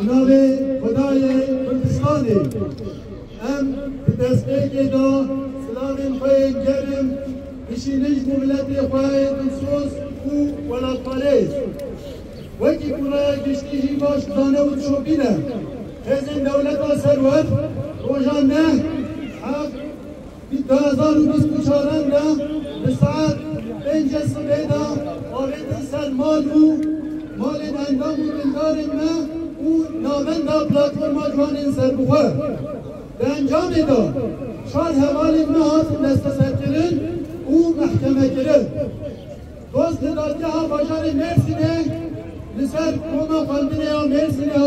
Di navê Xwedayê Kurdistanê em di destpêkê de silavên xwe yên germ bişînin ji bo miletê xwe yê dilsoz û welatparêz. Wekî ku raya giştî jî baş dizane û dişopîne, hêzên dewleta serwext roja neh, heq, Di du hezar û bîst û çar re de bi saet pêncê sibê de avêtin ser mal û malên endam û dindarên me û navenda Platforma Ciwanên Serbixwe. Di encamê de çar hevalên me hatin desteserkirin û mehkemekirin. Dost li dadgeha bajarê Mêrsînê li ser koma xwendinê ya Mêrsînê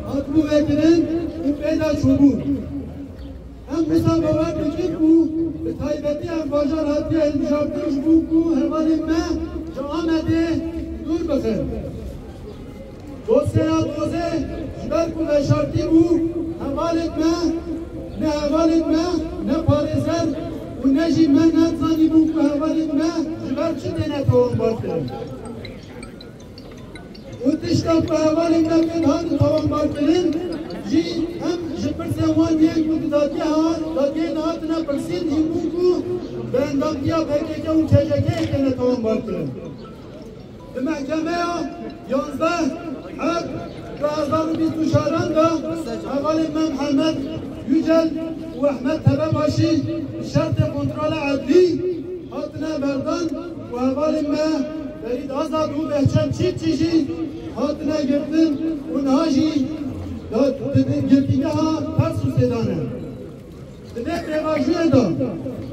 hatibû vekirin û pê de çûbûn. Em wisa bawer dikin ku bi taybetî ev bajar hatiye hilbijartin ji bo ku hevalên me ji Amedê dûr bixin. Dosyeya Dozê ji ber ku veşartî bû, hevalên me ne hevalên me ne parêzer û ne jî me nezanîbûn ku hevalên me ji ber çi têne tombarkirin. û tişta ku hevalên me pê dihatin tewambarkirin jî hem ji pirsên wan yên ku di dadgeha dadgehê de hatine pirsîn jî bû ku bi endamtiya pkk û CJK'ê têne tewambarkirin. Di mehkemeya yanzdeh Heb du hezar û bîst û çar de hevalên me Mihemed Yücel û Ehmed Tebebaşî bi şertê kontrola edlî hatine berdan. Ku hevalên me Ferîd Azad û Behçet Çîfçî jî hatine girtin û niha jî di girtîgeha Tarsusê de ne. Di vê pêvajoyê de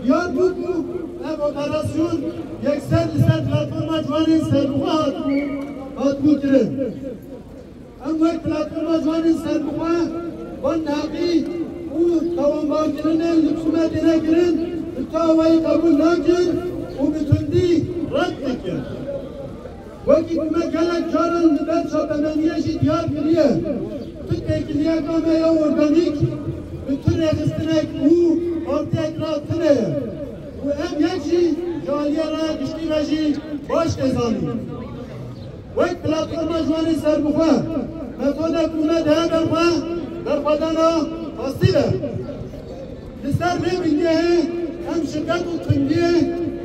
diyar bû ku ev operasyon yekser li ser platforma ciwanên serbixwe hatibû kirin. Em wek Platforma Ciwanên Serbixwe van taxî û tawanbarkirinên li Çime têne kirin bi çawayî qebûl nakin û bi tundî red dikin. Wekî ku me gelek caran li ber çapemeniyê jî diyar kiriye, tu têkiliyeka me ya organîk bi tu rêxistinek û partiyek re tune ye û em yek jî ji aliyê raya giştî re jî baş tê zanîn. Wek Platforma Ciwanên Serbixwe metoda ku me di hever xwe berxwedana pasîl e. Li ser vê bingehê em şiddet û tundiyê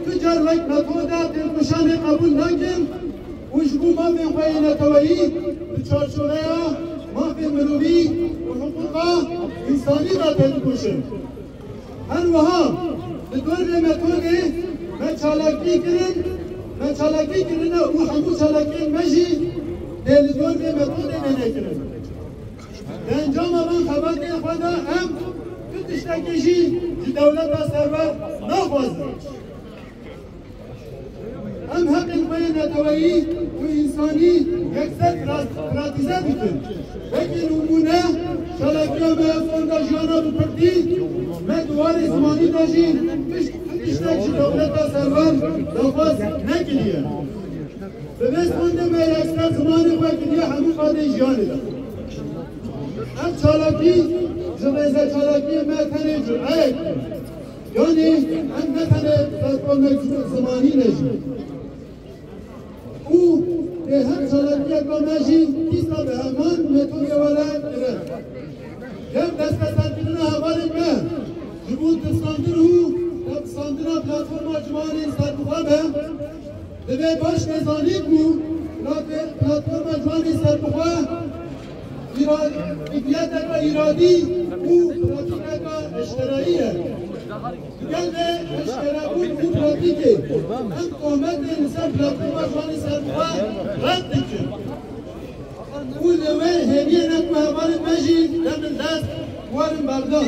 tu car wek metoda têkoşanê qebûl nakin û ji bo mafên xwe yê neteweyî di çarçoveya mafên mirovî û hiqûqa însanî de têdikoşin. Her wiha li dorê me Tolê me çalakî kirin, me çalakî kirine û hemû çalakiyên me jî dê li dorê me Tolê me nekirin. Di encama van xebatên xwe de em tu tiştekî jî ji dewleta serwer naxwazin. Em heqên xwe yê neteweyî û însanî yekser pratize dikin. Wekî nimûne çalakiya me ya Fonda Jiyana bi Kurdî, me di warê zimanî de jî tiştek ji dewleta servan daxwaz nekiriye. Bi vê fondê me yekser zimanê xwe kiriye hemû qadên jiyanê de. Ev çalakî ji rêzeçalakiyê me tenê cureyek bû. Yanî em ne tenê platformeke civilzimanî ne jî û dê her çalakiyeke me jî dîsa bi heman metodê we re kirin. Yew desteserkirina hevalên me ji bo tifsandin û tepsandina platforma ciwanê li ser bixwe be, divê baş tê zanîn ku platforma ciwanê serbixwe, Îradîyeteke îradî û pratîkeke eşkereyî ye. Digel vê eşkerebûn û pratîkê em tohmetê li ser platforma Ciwanê Serbixwe red dikin û li wê hêviyê ne ku hevalên me jî demin dest werin berdan.